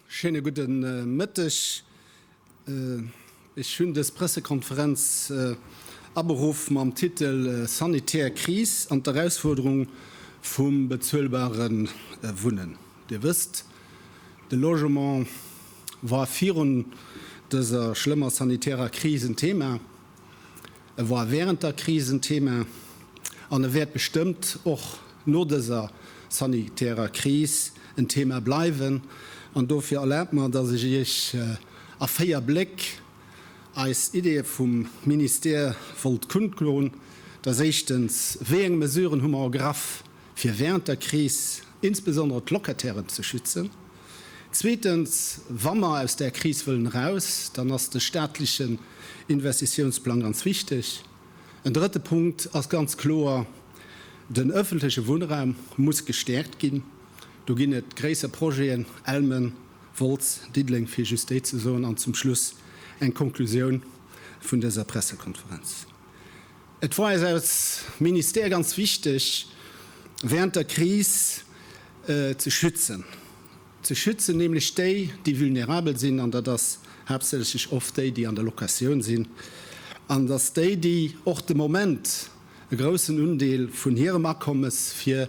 Schéine gudde Mëtteg. Ech hunn dës Pressekonferenz aberuff mam Titel Sanitär Kris an d'Erausfuerderung vum bezuelbare Wunnen. Dir wësst, de Logement war virun dëser schlëmmer sanitärer Kris en Thema. E war während der Kris en Thema an e wäert bestëmmt och no dëser sanitärer Kris en Thema bleiwen. An dofir erlaabt mer, dass ech Iech a véier Bléck eis Ideeë vum Ministère wollt kundlon. Dass éischtens, Wéi eng Mesuren hu mer ergraff, fir während der Kris insbesondere d'Locatairen ze schützen. Zweetens, wa mer aus där Kris wëllen eraus, dann ass de staatlechen Investitiounsplang ganz wichteg. En drëtte Punkt ass ganz kloer, Den öffentleche Wunnraum muss gestärkt ginn. Do ginn et gréisser Projeten, Elmen, Wolz, Diddeleng, fir just déi ze soen. An zum Schluss eng Konklusioun vun dëser Pressekonferenz. Et war eis als Ministère ganz wichteg, während der Kris ze schützen, ze schützen nämlech déi, déi vulnerabel sinn, an dat ass haaptsächlech oft déi, déi an der Locatioun sinn, an dass déi, déi och de Moment e groussen Undeel vun hirem Akommes fir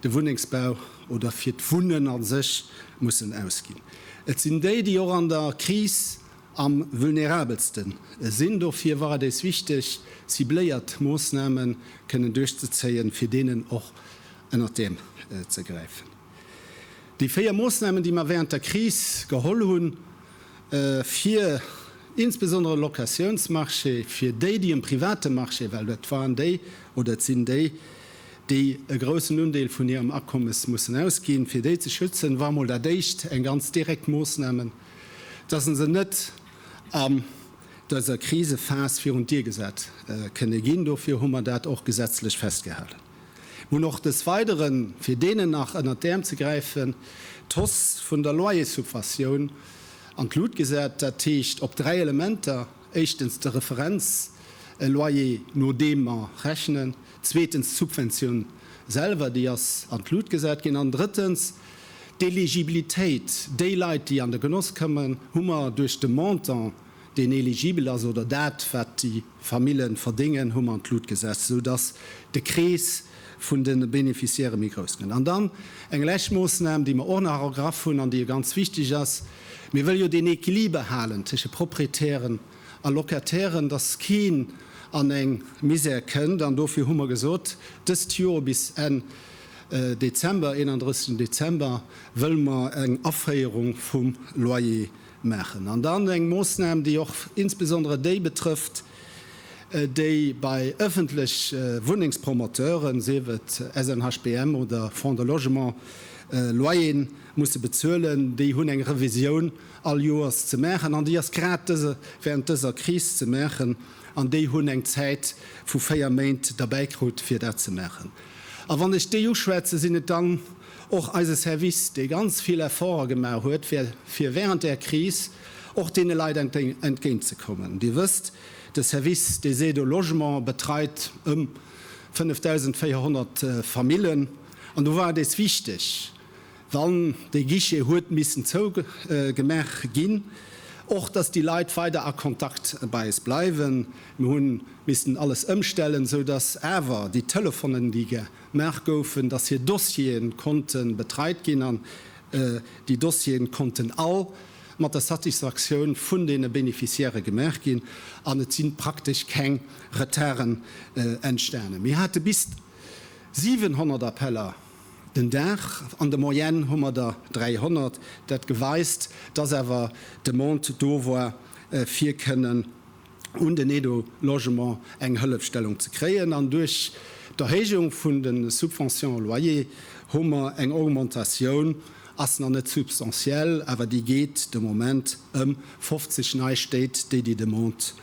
de Wunnengsbau oder fir d'Wunnen a sech mussen ausginn, et sinn déi, déi och an der Kris am vulnerabelsten sinn. Dofir war et eis wichteg, cibléiert Moossnamen kënnen duerchzezéien, fir deenen och ënnert d'Äerm ze gräifen. Déi véier Moossnamen, déi mer während der Kris geholl hunn, fir insbesondere Locatiounsmarché, fir déi, déi um private Marché, well dat waren déi oder et sinn déi, déi e groussen Undeel vun hirem Akommes mussen ausginn, fir déi ze schützen, war mol dat éischt eng ganz direkt Moossnamen. dass e se net an dëser Krisephas virun d'Dier gesat kënne ginn. Dofir hu mer dat och gesetzlech festgehalen. Mir hunn och des Weidere fir deenen nach ënnert d'Äerm ze gräifen d'Hausse vun der Loyerssubventioun an d'Lut gesat, dat heescht op dräi Elementer, éischtens de Referenzloyer no deem mer rechnen, zweetens d'Subventioun selwer, déi ass an d'Lut gesat ginn, an drëttens, D'Eligibilitéit, déi Leit, déi an de Genoss kommen, hu mer duerch de Montant, deen eligibel ass, oder dat, wat déi Famille verdéngen, hu mer an d'Lut gesat, sou dass de Krees vun de Beneficiairë méi grouss gëtt. An dann eng lescht Moossnam, déi mer och nach ergraff hunn an déi jo ganz wichtig ass, Mir wëlle jo deen Equiliber halen tësche Proprietären a Locatairen, dass keen an eng Misère kënnt. An dofir hu mer gesot, dëst Joer bis Enn Dezember, 31 Dezember, wëlle mer eng Aféierung vum Loyer maachen. An dann eng Moossnam, déi och insbesondere déi betrëfft, déi bei ëffentlech Wunnengspromoteuren, sief et SNHBM oder Fonds de Logement, Loyer musse bezuelen. Déi hunn eng Revisioun all Joers ze maachen an déi ass grad während dëser Kris ze maachen. An déi hunn eng Zäit vu véier Méint derbäikrut, fir dat ze maachen. A wann ech déi uschwätzen, sinn et dann och eise Service, dee ganz vill Efforte gemaach huet, fir während där Kris och deene Leit entgéintzekommen. Dir wësst, de Service des aides au logement betreit ëm 5.400 Famillen. An do war et eis wichteg, wann dee Guichet huet missen zou gemaach ginn, och dass déi Leit weider a Kontakt bei eis bleiwen. Mir hu missen alles ëmstellen, esou dass awer déi Telefonen, déi gemaach goufen, dass hir Dossiere konnte betreit ginn an déi Dossiere konnten all mat der Satisfaktioun vun deene Beneficiairë gemaach ginn an et si praktesch keng Retarden entstanen. Mir hate bis 700 Appeller. Den Dag, an der Moyenne hu mer der 300, dat geweist, dass awer de Mond do war fir kënnen un den Aide-au-logement eng Hëllefstellung ze kréien. An duerch d'Erhéijung vun de Subventions au loyer hu mer eng Augmentatioun, ass nach net substantiell, awer déi geet de Moment ëm 50 nei Stéit, déi déi Demande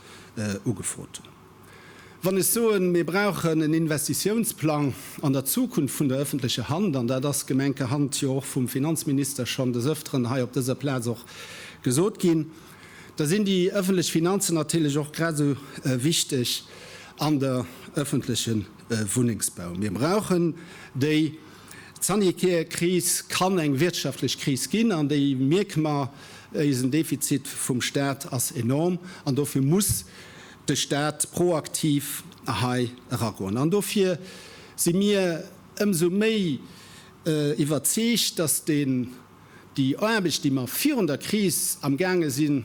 ugefrot hunn. Wann ech soen, mir brauchen en Investitiounsplang an der Zukunft vun der öffentlecher Hand, an dat ass gemenkerhand jo och vum Finanzminister schonn des Öfteren hei op dëser Plaz och gesot ginn, da sinn déi öffentlech Finanzen natierlech och grad esou wichteg an der öffentleche Wunnengsbau. Mir brauchen déi. D'sanitäre Kris kann eng wirtschaftlech Kris ginn, an déi mierke mer. Eisen Defizit vum Stat ass enorm, an dofir muss de Stat proaktiv hei eragoen. An dofir si mir ëmsou méi iwwerzeegt, dass déi Aarbecht, déi mer virun der Kris amgaange sinn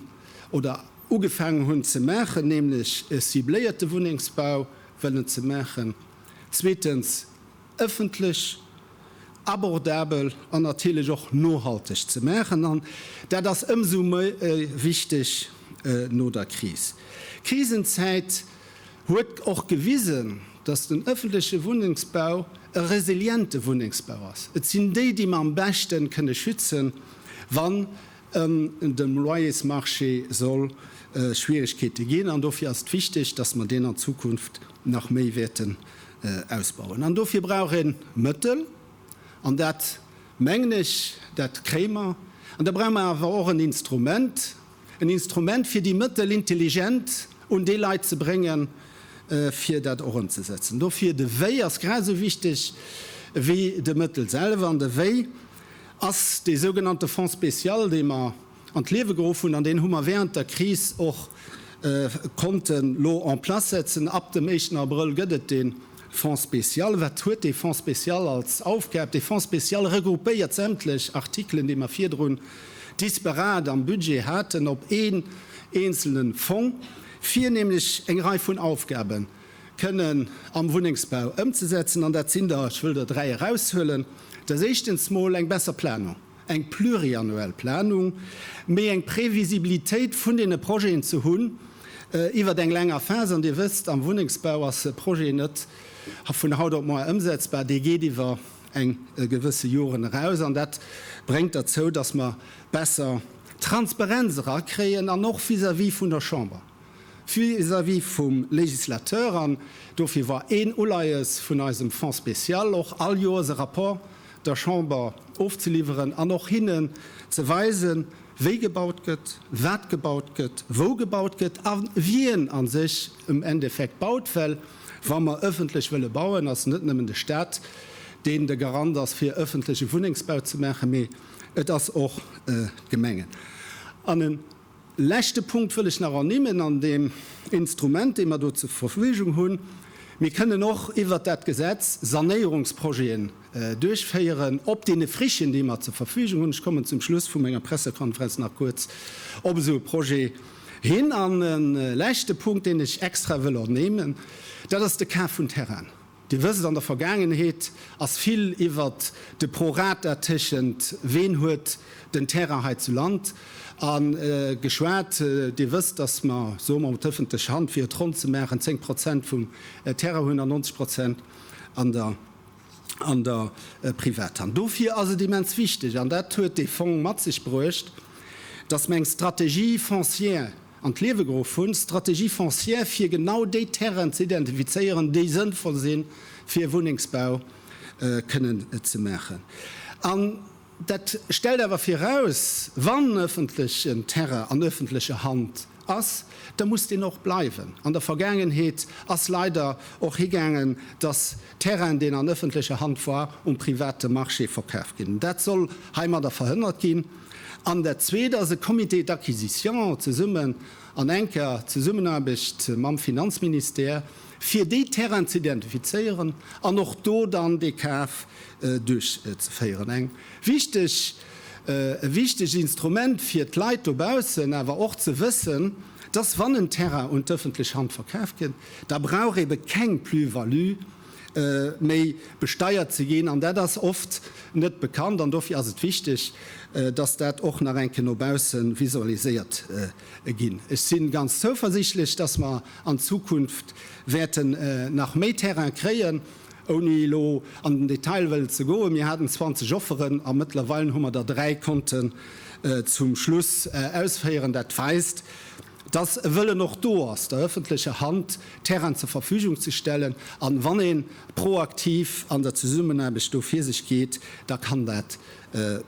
oder ugefaangen hunn ze maachen, nämlech e cibléierte Wunnengsbau wëllen ze maachen, zweetens, ëffentlech, abordabel an natierlech och nohalteg ze maachen. An dat ass ëmsou méi wichteg no der Kris. D'Krisenzäit huet och gewisen, datt den ëffentleche Wunnengsbau e resiliente Wunnengsbau ass. Et sinn déi, déi mer am beschte kënne schützen, wann An dem Loyersmarché soll Schwierigkeete ginn. An dofir ass et wichtig, dass mer deen an Zukunft nach méi wäerten ausbauen. An dofir brauch ee Mëttel. An dat, mengen ech, dat kréie mer. An da brauche mer awer och en Instrument, en Instrument, fir déi Mëttel intelligent un déi Leit ze bréngen, fir dat och ëmzesetzen. Dofir, de Wéi ass grad esou wichtig wéi de Mëttel selwer. An de Wéi ass dee sougenannte Fonds spécial, dee mer an d'Liewe geruff hunn, an deen hu mer während der Kris och konnte lo en place setzen. Ab dem éischten Abrëll gëtt et dee Fonds spécial. Wat huet dee Fonds spécial als Aufgab? Dee Fonds spécial regroupéiert sämtlech Artikelen, déi mer virdrun disparate am Budget haten, op een eenzelne Fong, fir nämlech eng Rei vun Aufgaben, kënnen am Wunnengsbau ëmzesetzen. An dat sinn der, ech wëll der dräi eraushuelen, Dat ass éischtens mol eng besser Planung, eng pluriannuel Planung, méi eng Previsibilitéit vun deene Projeten ze hunn iwwert eng länger Phas. An Dir wësst, am Wunnengsbau ass e Projet net vun haut op moar ëmsetzbar, dee geet iwwer eng gewësse Joren eraus. An dat bréngt derzou, dass mer besser Transparenz erakréien, an och vis-à-vis vun der Chamber. vis-à-vis vum Législateur an dofir war een Uleies vun eisem Fonds spécial och all Joers e Rapport der Chamber ofzeliwweren an och hinnen ze weisen, wéi gebaut gëtt, wat gebaut gëtt, wou gebaut gëtt a wien a sech am Endeffekt baut. Well wa mer ëffentlech wëlle bauen, ass net nëmmen de Stat, deen de Garant ass fir ëffentleche Wunnengsbau ze maachen, mee et ass och d'Gemengen. An e Leschte Punkt wëll ech nach ernimmen an deem Instrument, dee mer do zur Verfügung hunn. Mir kënnen och iwwert dat Gesetz Sanéierungsprojeten duerchféieren op deene Frichen, déi mer zur Verfügung hunn. Ech kommen zum Schluss vu menger Pressekonferenz nach kuerz op esou e Projet hin. An e leschte Punkt, deen ech extra wëll ernimmen, dat ass de Kaf vun Terrainen. Dir wësst, an der Vergaangenheet ass vill iwwert de Pro rata téschent Ween huet den Terrain hei zu Land a geschwat. Dir wësst, dass mer, soe mer, mat ëffentlecher Hand, fir et ronn ze maachen, 10 Prozent vum Terrain hunn an 90 Prozent an der Privathand. Dofir ass et immens wichteg, an dat huet dee Fong mat sech bruecht, dass mer eng Strategie foncière an d'Liewe geruff hunn, Stratégie foncière, fir genau déi Terrainen ze identifizéieren, déi sënnvoll si fir Wunnengsbau kënnen ze maachen. An dat stellt awer viraus, wann ëffentlechen Terrain an ëffentlecher Hand ass, da muss deen och bleiwen. An der Vergaangenheet ass leider och higaangen, dass Terrain, deen an ëffentlecher Hand war, um private Marché verkaf ginn. Dat soll heimadder verhënnert ginn. An dat zweet ass e Comité d'acquisition zesumme an enker Zesummenaarbecht mam Finanzministère, fir déi Terrainen ze identifizéieren an och do dann dee Kaf duerchzeféieren. Eng wichteg, e wichtegt Instrument fir d'Leit dobaussen awer och ze wëssen, dass wann en Terrain un d'ëffentlech Hand verkaf gëtt, da brauch ebe keng Plus-value méi besteiert ze ginn. An dat ass oft net bekannt an dofir ass et wichteg, dass dat och nach enke no bausse visualiséiert ginn. Ech si ganz zouversichtlech, dass mer an Zukunft wäerten nach méi Terraine kréien, ouni elo an den Detail wëllen ze goen. Mir haten 20 Offeren a mëttlerweil hu mer der dräi konnten zum Schluss ausféieren. Dat weist, dass e Wëllen och do ass, der öffentlecher Hand Terrainen zur Verfügung ze stellen. A wann ee proaktiv an der Zesummenaarbecht do vir sech geet, da kann dat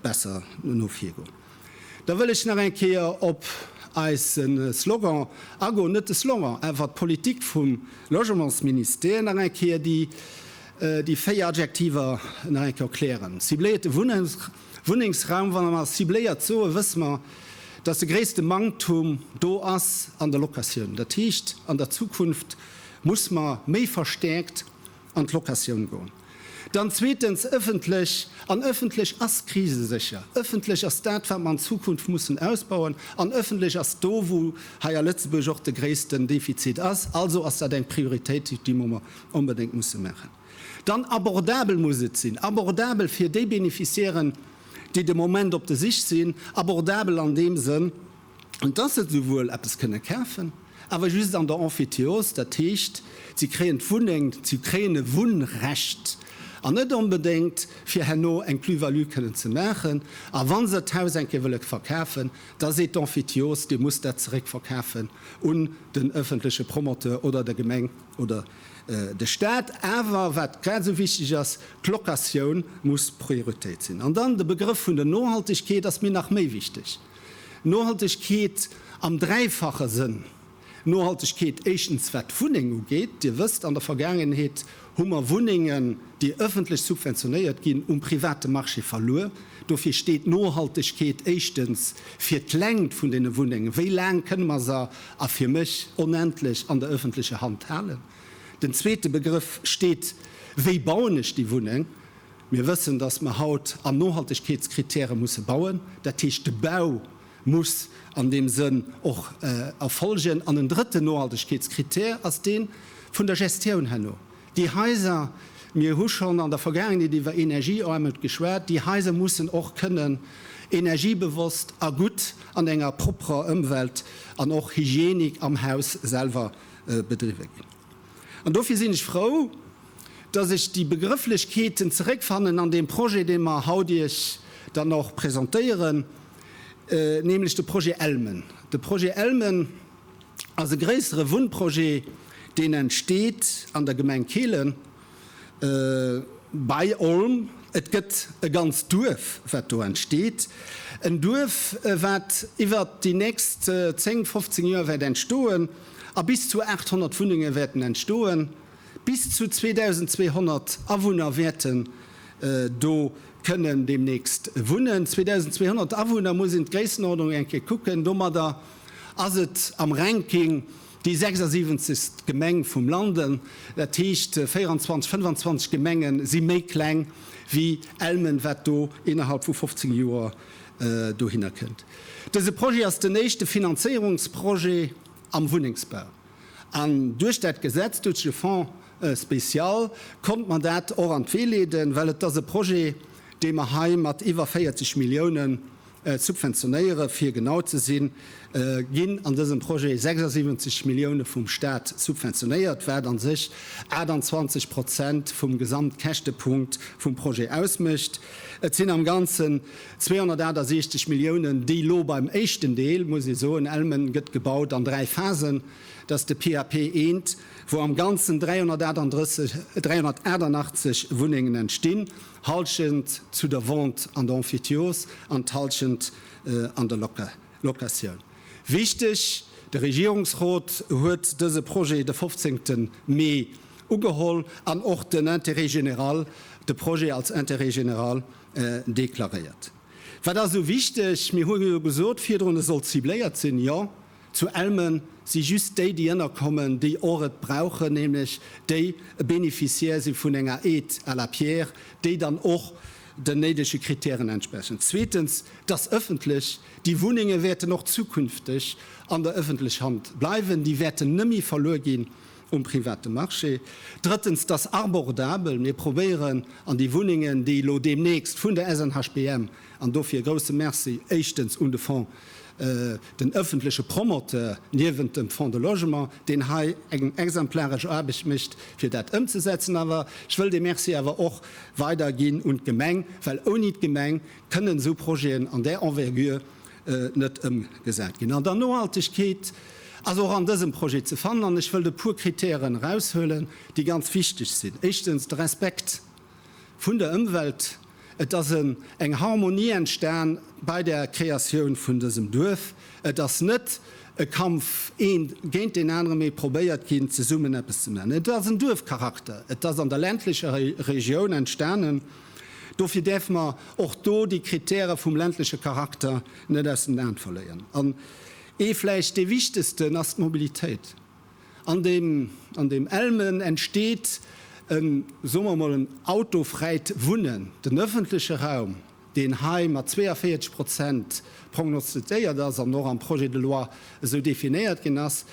besser no vir goen. Da wëll ech nach eng Kéier op eise Slogan agoen, net de Slogan, awer d'Politik vum Logementsministère nach eng Kéier, déi véier Adjektiver nach eng Kéier erklären, cibléierte Wunnraum, Wunnengsraum, wa mer mer cibléiert soen, wësse mer, dass de gréisste Manktum do ass an der Locatioun. Dat heescht, an der Zukunft muss mer méi verstärkt an d'Locatioun goen. Dann zweetens öffentlech. An öffentlech ass krisesécher. Öffentlech ass dat, wat mer an Zukunft mussen ausbauen. An öffentlech ass do, wou hei a Lëtzebuerg och de gréissten Defizit ass. Also ass dat eng Prioritéit, déi mer onbedéngt musse maachen. Dann abordabel muss et sinn, abordabel fir déi Beneficiairen, déi de Moment op der Sich sinn, abordabel an deem Sënn, dass se souwuel eppes kënne kafen, awer just an der Emphytéose, dat heescht, si kréien d'Wunneng, si kréien e Wunnrecht an net onbedéngt, fir herno eng Plus-value kënnen ze maachen. A wa se d'Haus eng Kéier wëlle verkafen, da seet d'Emphytéose, Dir musst dat zeréckverkafen un den öffentleche Promoteur oder der Gemeng. oder de Staat, awer wat grad esou wichteg ass, d'Locatioun muss Prioritéit sinn. An dann de Begrëff vun der Nohaltegkeet ass mir nach méi wichteg. Nohaltegkeet am dräifache Sënn, Nohaltegkeet éischtens wat d'Wunneng ugeet. Dir wësst, an der Vergaangenheet hu mer Wunnengen, déi ëffentlech subventionéiert ginn, um private Marché verluer. Dofir steet Nohaltegkeet éischtens fir d'Längt vun den Wunnengen, wéi laang kënne mer se, a fir mech onendlech, an der öffentlecher Hand halen. Den zweete Begrëff steet, wéi bauen ech déi Wunneng. Mir wëssen, dass mer haut an Nohaltegkeetskritäre musse bauen. Dat heescht, de Bau muss an deem Sënn och erfolgen. An en drëtten Nohaltegkeetskritär ass dee vun der Gestioun herno. Déi Haiser, mir hu schonn an der Vergaangenheet iwwer Energiearmut geschwat, déi Haiser mussen och kënnen energiebewosst a gutt an enger propperer Ëmwelt an och Hygienik am Haus selwer bedriwwe ginn. An dofir sinn ech frou, dass ech déi Begrëfflechkeeten zeréckfannen an deem Projet, dee mer haut Iech dann och presentéieren, nämlech de Projet Elmen. De Projet Elmen. ass e gréissere Wunnprojet, deen entsteet an der Gemeng Kehlen bei Olm. Et gëtt e ganzt Duerf, wat do entsteet. En Duerf, wat iwwert déi nächst 10, 15 Joer wäert entstoen a bis zu 800 Wunnenge wäerten entstoen. Bis zu 2.200 Awunner wäerten do kënnen deemnächst wunnen. 2.200 Awunner, muss een d'Gréissenordnung eng Kéier kucken, domadder. ass et am Ranking déi 76. Gemeng vum Landen. Dat heescht 24, 25 Gemenge si méi kleng wéi Elmen, wat do innerhalb vu 15 Joer dohinner kënnt. Dëse Projet ass den éischte Finanzéierungsprojet am Wunnengsbau. An duerch dat Gesetz, duerch de Fonds spécial konnte mer dat och an d'Wee leeden, well et ass e Projet, dee mer hei mat iwwer 40 Milliounen Subventionéiere fir genau ze sinn, ginn an dësem Projet 76 Millioune vum Staat subventionéiert, wat a sech 28 Prozent vum Gesamtkäschtepunkt vum Projet ausmécht. Et sinn am Ganzen 268 Milliounen, déi elo beim éischten Deel, muss ee soen, Elmen gëtt gebaut an dräi Phasen, dat ass de PAP I, wou am Ganzen 388 Wunnengen entstinn. Halschent zu der Vente an der Emphytiose an d'Halschent an der Locatioun. Wichteg, De Regierungsrot huet dëse Projet de 15 Mee ugeholl an och den Intérêt général, de Projet als Intérêt général deklaréiert. Wat ass esou wichteg? Mir hunn jo gesot virdrun, e soll cibléiert sinn. Jo, Zu Elmen si just déi, déi ënnerkommen, déi och et brauchen, nämlech déi e Bénéficiaire si vun enger Aide à la pierre, déi dann och den néidege Krittären entsprechen. Zweetens, dass ëffentlech déi Wunnenge wäerten och zukünfteg an der ëffentlech Hand bleiwen, déi wäerten nëmmi verluer ginn um private Marché. Drëttens, dass arbordabel, mir probéieren an déi Wunnengen, déi elo deemnächst vun der SNHBM An dofir e grousse Merci éischtens un de Fonds, den ëffentleche Promoteur niewent dem Fonds de Logement, deen hei eng exemplaresch Aarbecht mécht, fir dat ëmzesetzen. Awer ech wëll dee Merci awer och weiderginn un d'Gemeng, well ouni d'Gemeng kënnen esou Projeten an där Envergure net ëmgesat ginn. An dann d'Nohaltegkeet ass och an dësem Projet ze fannen. An ech wëllt e puer Kritären eraushuelen, déi ganz wichteg sinn. Éischtens de Respekt. Vun der Ëmwelt. Et ass en eng Harmonie entstan bei der Kreatioun vun dësem Duerf. Et ass net e Kampf een géint deen anere mee probéiert ginn zesummen eppes ze man. Et ass en Duerfcharakter. Et ass an der ländlecher Regioun entstanen. Dofir däerfe mer och do déi Kritäre vum ländleche Charakter net aus den Aen verléieren. An ee vläicht dee wichtegsten ass d'Mobilitéit. An dem an dem Elmen entsteet en, soe mer emol, en autofräit Wunnen. Den ëffentleche Raum, deen hei mat 42 Prozent prognostezéiert ass an och am Projet de loi esou definéiert ginn ass,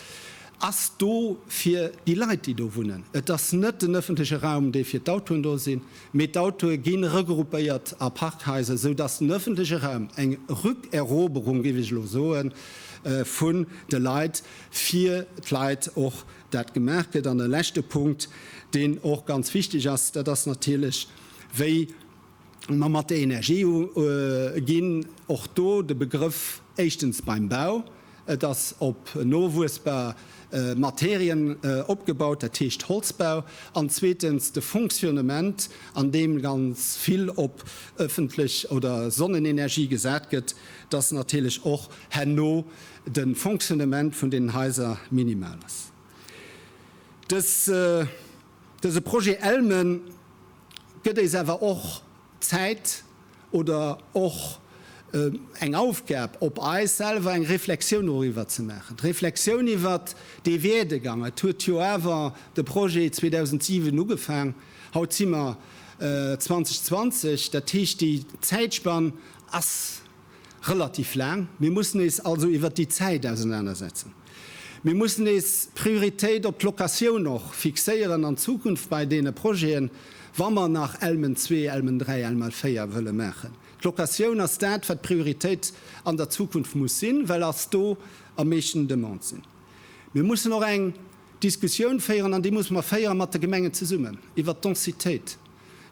ass do fir déi Leit, déi do wunnen. Et ass net den ëffentleche Raum, dee fir d'Autoen do sinn, mee d'Autoe gi regruppéiert a Parkhaiser, sou dass den ëffentleche Raum, eng Rückeroberung, géif ech elo soen, vun de Leit, fir d'Leit och dat gemaach gëtt. An e leschte Punkt, deen och ganz wichteg ass, dat ass natierlech, wéi mer mat der Energie ëmginn. Och do de Begrëff, éischtens beim Bau, et ass op nowuessbar Materien opgebaut, dat heescht Holzbau, an zweetens de Fonctionnement, an deem ganz vill op ëffentlech oder Sonnenenergie gesat gëtt, dass natierlech och herno de Fonctionnement vun deenen Haiser minimal ass. Dës, dëse Projet ELME gëtt éis awer och Zäit oder och eng Aufgab op eis selwer, eng Reflexioun doriwwer ze maachen, d'Reflexioun iwwert dee Werdegang. Et huet jo awer de Projet 2007 ugefaang, haut si mer 2020, dat heescht déi Zäitspann ass, relativ laang. Mir mussen eis also iwwert déi Zäit ausenanersetzen. Mir mussen eis Prioritéit op d'Locatioun och fixéieren an Zukunft bei deene Projeten, wa mer nach ELMen zwee, ELMen dräi, ELMal véier wëlle maachen. D'Locatioun ass dat, wat d'Prioritéit an der Zukunft muss sinn, well ass do am meeschten Demande sinn. Mir mussen och eng. Diskussioun féieren, an déi muss mer féieren, mat de Gemengen zesummen, iwwert d'Densitéit.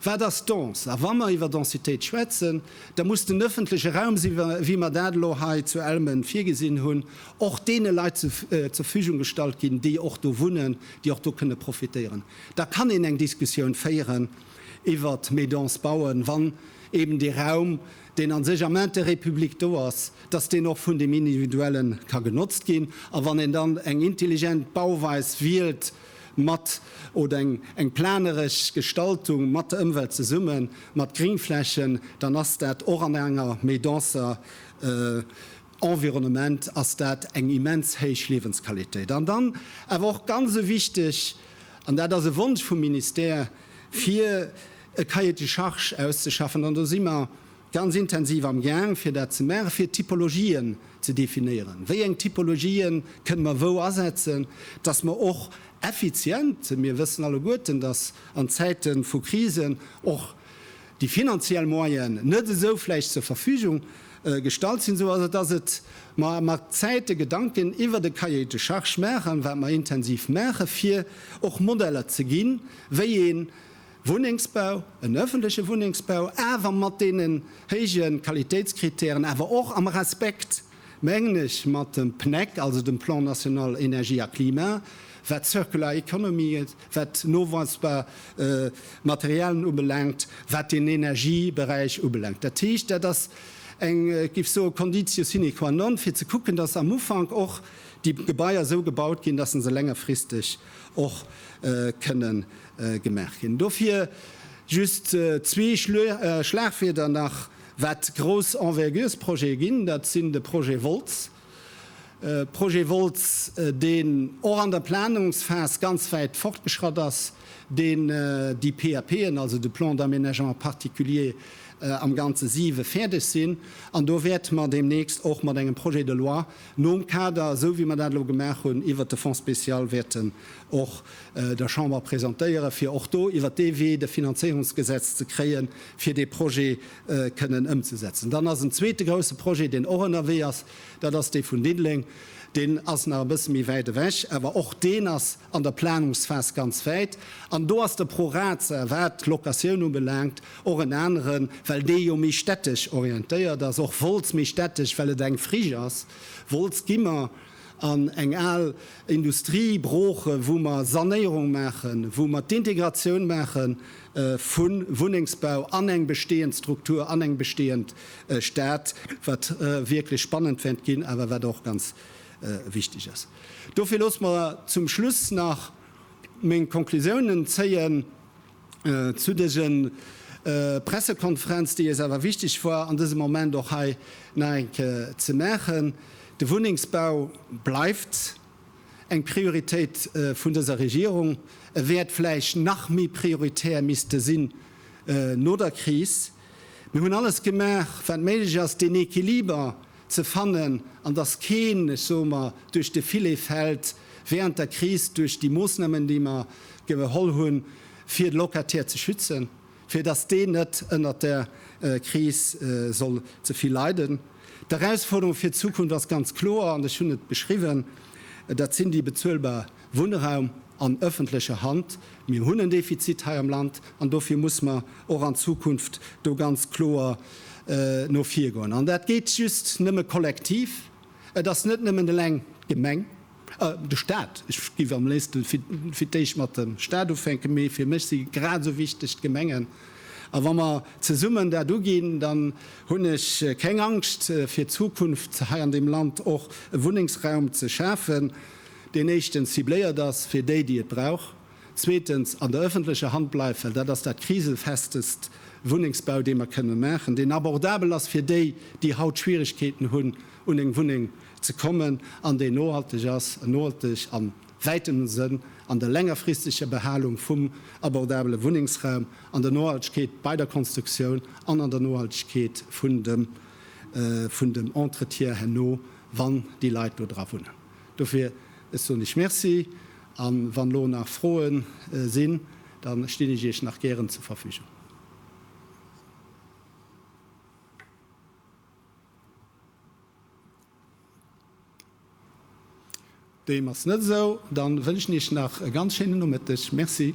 Wat ass dens? A wa mer iwwer Densitéit schwätzen, da muss den ëffentleche Raum, esou wéi mer dat elo hei zu Elmen virgesinn hunn, och deene Leit zur Verfügung gestallt ginn, déi och do wunnen, déi och do kënne profitéieren. Da kann een eng Diskussioun féieren iwwert méi dense Bauen, wann eeben dee Raum, deen a sech am Intérêt public do ass, dass deen och vun deem Individuellen ka genotzt ginn. A wann een dann eng intelligent Bauweis wielt mat, oder eng, eng planeresch Gestaltung mat der Ëmwelt zesummen, mat Greenflächen, dann ass dat och an enger méi denser, Environnement ass dat eng immens héich Liewensqualitéit. An dann awer och ganz e wichteg, an dat ass e Wonsch vum Ministère, fir e Cahier de charges auszeschaffen, an do si mer ganz intensiv am Gaang, fir dat ze maachen, fir Typologien ze definéieren, wéi eng Typologie kënne mer wou asetzen, dass mer och effizient, mir wëssen alleguerten, dass an Zäite vu Krisen och déi finanziell Moyen net esou vläicht zur Verfügung gestallt sinn, sou ass, datt et mer mat Zäite Gedanken iwwert e Cahier de charges maachen, wat mer intensiv maache fir och Modeller ze ginn, wéi ee Wunnengsbau, en öffentliche Wunnengsbau, awer mat deenen héije Qualitéitskritären, awer och am Respekt mengen ech, mat dem PNEC, also dem Plan national énergie à climat, wat d'Circular Economy, wat noweisbar Materialien ubelaangt, wat den Energieberäich ubelaangt. Dat heescht, dat ass eng, giff soe, Conditio sine qua non, fir ze kucken, dass am Ufank och déi Gebaier esou gebaut ginn, dass se längerfristeg och kënne gemaach ginn. Dofir just zwee Schlagwierder nach Wat grouss Enverguresprojete ginn, dat sinn de Projet Wolz, Projet Wolz, deen och an der Planungsphas ganz wäit fortgeschratt ass, deen déi PAPen, also de Plan d'aménagement particulier, am Ganze siwe fäerdeg sinn. An do wäerte mer deemnächst och mat engem Projet de loi nom Kader, esou wéi mer dat elo gemaach hunn, iwwert de Fonds spécial wäerten och der Chamber presentéieren, fir och do iwwert dee Wee de Finanzéierungsgesetz ze kréien, fir dee Projet kënnen ëmzesetzen. Dann ass en zweete grouse Projet, deen och ënnerwee ass, dat ass dee vun Diddeleng. Deen ass nach e bësse méi wäit ewech, awer och deen ass an der Planungsphas ganz wäit. An do ass de ProRaza, wat d'Locatioun ubelaangt, och en aneren, well dee jo méi städtesch orientéiert ass. Och Wolz méi städtesch, well et eng Friche ass. Wolz gi mer an eng al Industrie broochen, wou mer Sanéierung maachen, wou mer d'Integratioun maache vu Wunnengsbau an eng bestehend Struktur, an eng bestehend Stad, wat wierklech spannend wäert ginn, awer wat och ganz wichteg ass. Dofir loosst mer zum Schluss nach meng Konklusiounen zéien. Zu dëse Pressekonferenz, déi eis awer wichteg war an dësem Moment och hei nach eng Kéier ze maachen, De Wunnengsbau bleift eng Prioritéit vun dëser Regierung. E wäert vläicht nach méi prioritär misste sinn no der Kris. Mir hunn alles gemaach, wat méiglech ass, deen Equiliber ze fannen an dass keen, ech soe mer, duerch de Filet fält während der Kris duerch déi Moosnamen, déi mer geholl hunn, fir de Locataire ze schützen, fir dass deen net ënnert der Kris soll ze vill leiden. D'Erausforderung fir d'Zukunft ass ganz kloer an ech hunn et beschriwwen, dat sinn déi bezuelbar Wunnraum an öffentlecher Hand. Mir hunn en Defizit hei am Land an dofir muss mer och an Zukunft do ganz kloer no vir goen. An dat geet just nëmme kollektiv. Et ass net nëmmen eleng d'Gemeng, de Stat, ech géif am léifste fir d'éischt mat dem Stat ufänken, mee fir mech si grad esou wichteg d'Gemengen. A wa mer zesummen dat uginn, dann hunn ech keng Angscht fir d'Zukunft hei an deem Land och e Wunnengsraum ze schafen. deen éischtens cibléiert ass fir déi, déi et brauch, zweetens an der ëffentlecher Hand bleift, well dat ass dat kriselfestest Wunnengsbau, dee mer kënne maachen, deen abordabel ass fir déi, déi haut Schwierigkeeten hunn, un eng Wunneng ze kommen, an deen nohalteg ass, en nohalteg am wäiteren Sënn, an der längerfristeger Behalung vum abordabele Wunnengsraum, an der Nohaltegkeet bei der Konstruktioun an an der Nohaltegkeet vun dem Entretien herno, wann déi Leit do dra wunnen. Dofir, ech soen Iech Merci, a wann elo nach Froe sinn, da stinn ech Iech nach gären zur Verfügung. Deem ass net esou. Da wënschen Iech nach e ganz schéinen Nomëtteg. Merci.